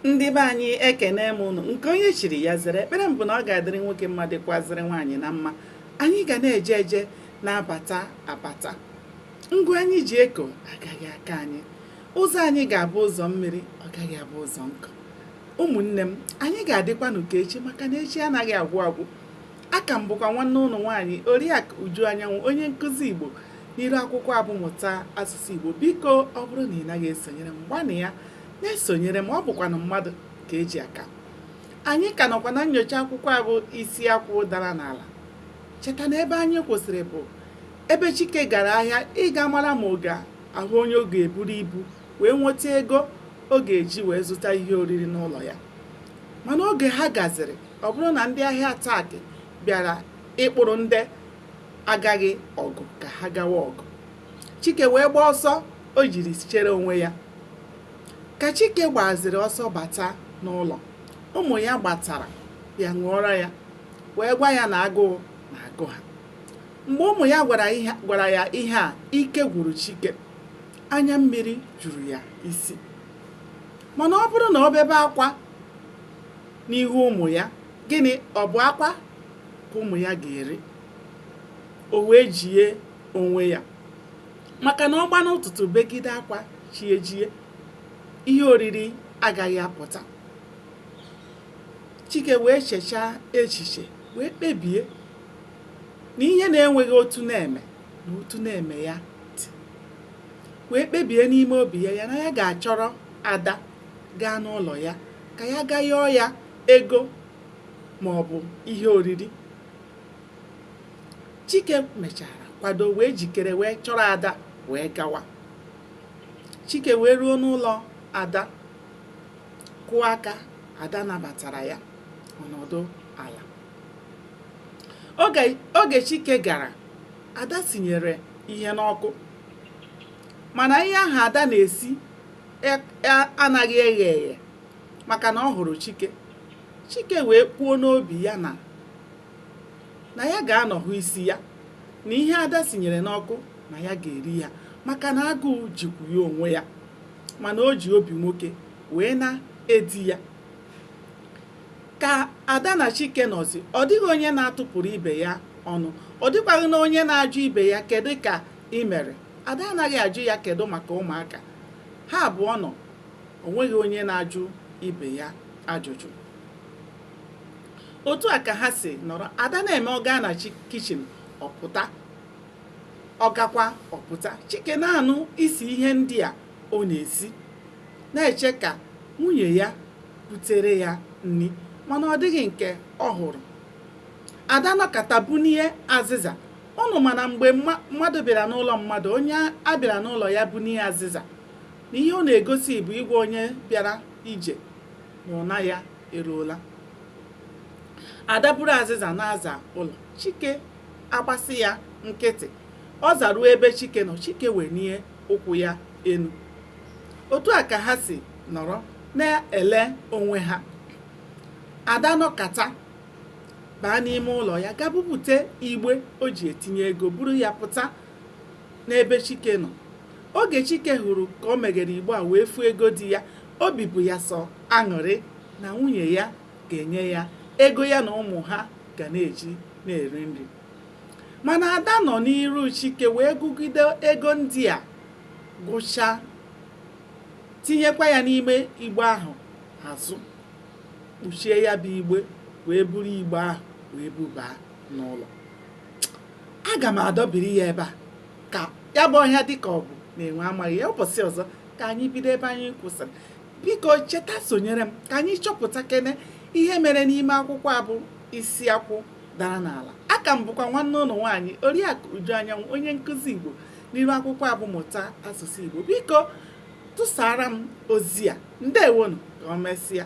ndị be anyị ekene m ụnụ nke onye chiri ya zere ekpere m bụ na ọ ga-adịrị nwoke mma dịkwazịrị nwaanyị na mma anyị ga na-eje eje na-abata abata ngwa anyị ji eko agaghị akọ anyị ụzọ anyị ga-abụ ụzọ mmiri ọ gaghị abụ ụzọ nkụ ụmụnne m anyị ga-adịkwa nke echi maka na echi anaghị agwụ agwụ aka m bụkwa nwanne ụnụ nwaanyị oriakụ uju anyanwụ onye nkụzi igbo n'iru akwụkwọ a bụ mụta asụsụ igbo biko ọ bụrụ na ị naghị esonyere m gbanịa na-esonyere m ọ bụkwanụ mmadụ ka eji aka anyị ka nọkwa na nnyocha akwụkwọ a bụ isi akwụ dara n'ala cheta na ebe anyị kwụsịrị bụ ebe chike gara ahịa ịga mara ma ọ ga-ahụ onye ọ ga-eburu ibu wee nweta ego ọ ga-eji wee zụta ihe oriri n'ụlọ ya mana oge ha gaziri ọ bụrụ na ndị ahịa ataki bịara ịkpụrụ ndị agaghị ọgụ ka ha gawa ọgụ Chike wee gbaa ọsọ o jiri chere onwe ya. Ka Chike gbaziri ọsọ bata n'ụlọ, ụmụ ya gbatara ya ṅụọrọ ya wee gwa ya na agụụ na-agụ ha. Mgbe ụmụ ya gwara ya ihe a, ike gwụrụ Chike. Anya mmiri juru ya isi. Mana ọ bụrụ na ọ bebe akwa n'ihu ụmụ ya, gịnị ọ bụ akwa ka ụmụ ya ga-eri? O wee jie onwe ya maka na ọ gba n'ụtụtụ begide akwa chi ejie ihe oriri agaghị apụta chike wee chechaa echiche wee kpebie na ihe na-enweghị otu na-eme na otu na-eme ya dị wee kpebie n'ime obi ya ya na ya ga-achọrọ ada gaa n'ụlọ ya ka ya gaa yọọ ya ego ma ọ bụ ihe oriri chike mechara kwado wee jikere wee chọrọ ada wee gawa chike wee ruo n'ụlọ ada kụọ aka ada nabatara ya ọ nọdụ ala oge chike gara ada sinyere ihe n'ọkụ mana ihe ahụ ada na-esi e, e, anaghị eghe eghe maka na ọ hụrụ chike chike wee kwuo n'obi ya na na ya ga-anọ hụ isi ya na ihe ada sinyere n'ọkụ na ya ga-eri ya maka na agụụ jikwu ya onwe ya mana o ji obi nwoke wee na-edi ya ka ada na chike nọzi ọ dịghị onye na-atụpụrụ ibe ya ọnụ ọ dịkwaghị na onye na-ajụ ibe ya kedu ka ị mere ada anaghị ajụ ya kedu maka ụmụaka ha abụọ nọ o nweghị onye na-ajụ ibe ya ajụjụ otu a ka ha si nọrọ ada na-eme ọ gaa na kichin ọ pụta ọ gakwa ọ pụta chike na-anụ isi ihe ndị a ọ na-esi na-eche ka nwunye ya butere ya nri mana ọ dịghị nke ọ hụrụ ada nọkata bunie azịza unu ma na mgbe mmadụ bịara n'ụlọ mmadụ onye a bịara n'ụlọ ya bunie azịza na ihe ọ na-egosi bụ ịgwa onye bịara ije na ụna ya eruola ada buru azịza na-aza ụlọ chike agbasị ya nkịtị ọ zaruo ebe chike nọ chike wenie ụkwụ ya enu otu a ka ha si nọrọ na-ele onwe ha ada nọkata baa n'ime ụlọ ya ga bupute igbe o ji etinye ego buru ya pụta n'ebe chike nọ oge chike hụrụ ka o meghere igbe a wee fụ ego dị ya obi bụ ya sọ aṅụrị na nwunye ya ga-enye ya ego ya na ụmụ ha ga na-eji na-eri nri mana ada nọ n'iru chike wee gụgide ego ndị a gụchaa tinyekwa ya n'ime igbe ahụ azụ kpuchie ya bụ igbe wee buru igbe ahụ wee bubaa n'ụlọ aga m adọbiri ya ebe a ka ya bụ ọhịa dịka ọ bụ na enwe amaghị ya ụbọchị ọzọ ka anyị bido ebe anyị kwụsịrị biko cheta sonyere m ka anyị chọpụtakene ihe mere n'ime akwụkwọ a bụ isi akwụ dara n'ala aka m bụkwa nwanne unu nwaanyị oriakụ uju anyanwụ onye nkụzi igbo n'iru akwụkwọ a bụ mụta asụsụ igbo biko tụsara m ozi a ndewonụ ka o mesịa